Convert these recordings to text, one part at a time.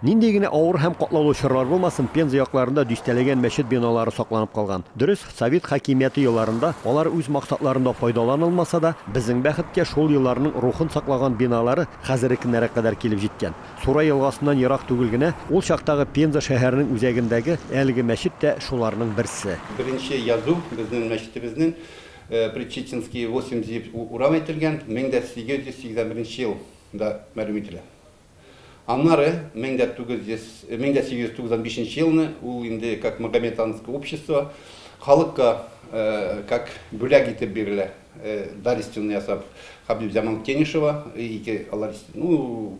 Нинди генә авыр һәм катлаулы чорлар булмасын, Пенза якларында дистәләгән мәчет биналары сакланып калган. Дөрес, совет хакимияте елларында алар үз максатларында файдаланылмаса да, безнең бәхеткә, шул елларның рухын саклаган биналары хәзерекенәрәк кадәр килеп җиткән. Сурай елгасыннан ерак түгел генә, ул чактагы Пенза шәһәренең үзәгендәге әлеге мәчет тә шуларның берсе. Беренче язу безнең мәчетебезнең Предчеченские восемь дип урам әйтелгән, 1881 ел да мәлүм ителә. Аннары, мең дә тугыз йөз, мең дә сигез йөз туксан бишенче елны, ул инде как Магометанское общество халыкка как бүләк итеп бирелә, дарственный ясап, Хәбибзаман Кенишева, ике алар, ну,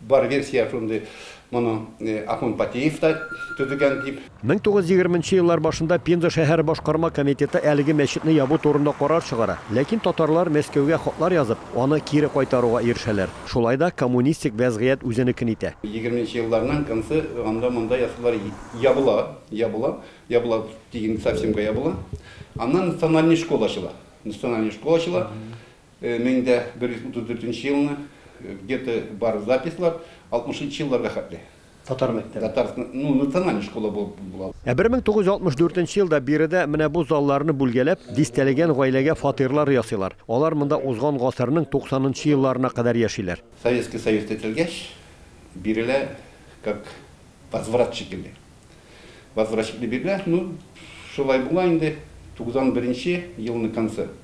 бар версия шундый, моны Ахун Патеев та төзегән дип. Мең тугыз йөз егерме нче еллар башында Пенза шәһәре башкарма комитеты әлеге мәчетне ябу турында карар чыгара, ләкин татарлар Мәскәүгә хатлар язып, аны кире кайтаруга ирешәләр. Шулай да коммунистик вәзгыять үзенекен итә. Егерме нче елларның концы анда-монда ясыйлар, ябыла, ябыла, ябыла дигән совсемга ябыла. Аннан национальный школа ачыла. Национальный школа ачыла. Мең дә бер йөз утыз дүртенче елны, где-то бар записьлар, алтмышынчы елларга хәтле. Татар мәктәбе. Татар, ну, национальная школа булып була. Ә 1964 нче елда биредә менә бу залларны бүлгәләп, дистәләгән гаиләгә фатирлар ясыйлар. Алар монда узган гасырның 90 нчы елларына кадәр яшиләр. Советский Союз тетелгәч, бирелә, как возврат шикелле. Возврат шикелле бирелә, ну, шулай була инде, 91 нче елның концы.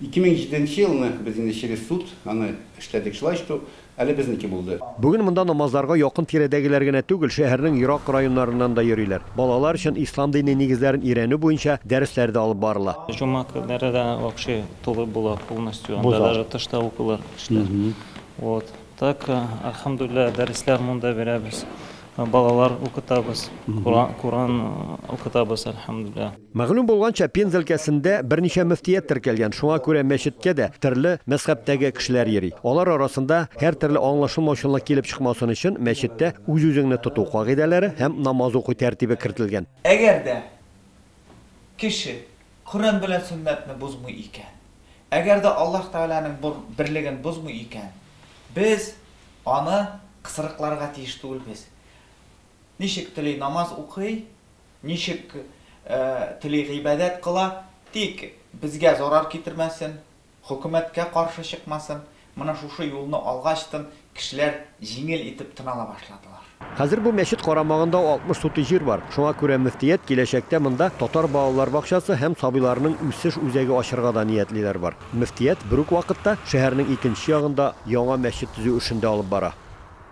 Ике мең җиденче елны без инде через суд аны эшләдек, шулай что әле безнеке булды. Бүген монда намазларга якын-тирәдәгеләр генә түгел, шәһәрнең ерак районнарыннан да йөриләр. Балалар өчен ислам дине нигезләрен өйрәнү буенча дәресләр дә алып барыла. Җомга көннәре дә вообще тулы була полностью, Бу анда зал. даже тышта укыйлар кешеләр. Вот так, альхамдуллилла, дәресләр монда бирәбез. Балалар укытабыз, Коръән укытабыз, әлхәмдүлилләһ. Мәгълүм булганча, Пенза өлкәсендә берничә мөфтият теркәлгән, шуңа күрә мәчеткә дә төрле мәзхәбтәге кешеләр йөри. Алар арасында һәртөрле аңлашылмаучанлык килеп чыкмасын өчен мәчеттә үз-үзеңне тоту кагыйдәләре һәм намаз уку тәртибе кертелгән. Әгәр дә кеше Коръән белән сөннәтне бозмый икән, әгәр дә Аллаһ Тәгаләнең бу берлеген бозмый икән, без аны кысрыкларга тиеш түгелбез. Ничек тели намаз укый, ничек тели гыйбадәт кыла, тик безгә зарар китермәсен. Хөкүмәткә каршы чыкмасын, менә шушы юлны алгачтын кешеләр җиңел итеп тын ала башладылар. Хәзер бу мәчет карамагында 60 сутый җир бар. Шуңа күрә мөфтият киләчәктә монда татар балалар бакчасы һәм сабыйларның үсеш үзәге ачырга да ниятлиләр бар. Мөфтият берүк вакытта шәһәрнең икенче ягында яңа мәчет төзү эшен дә алып бара.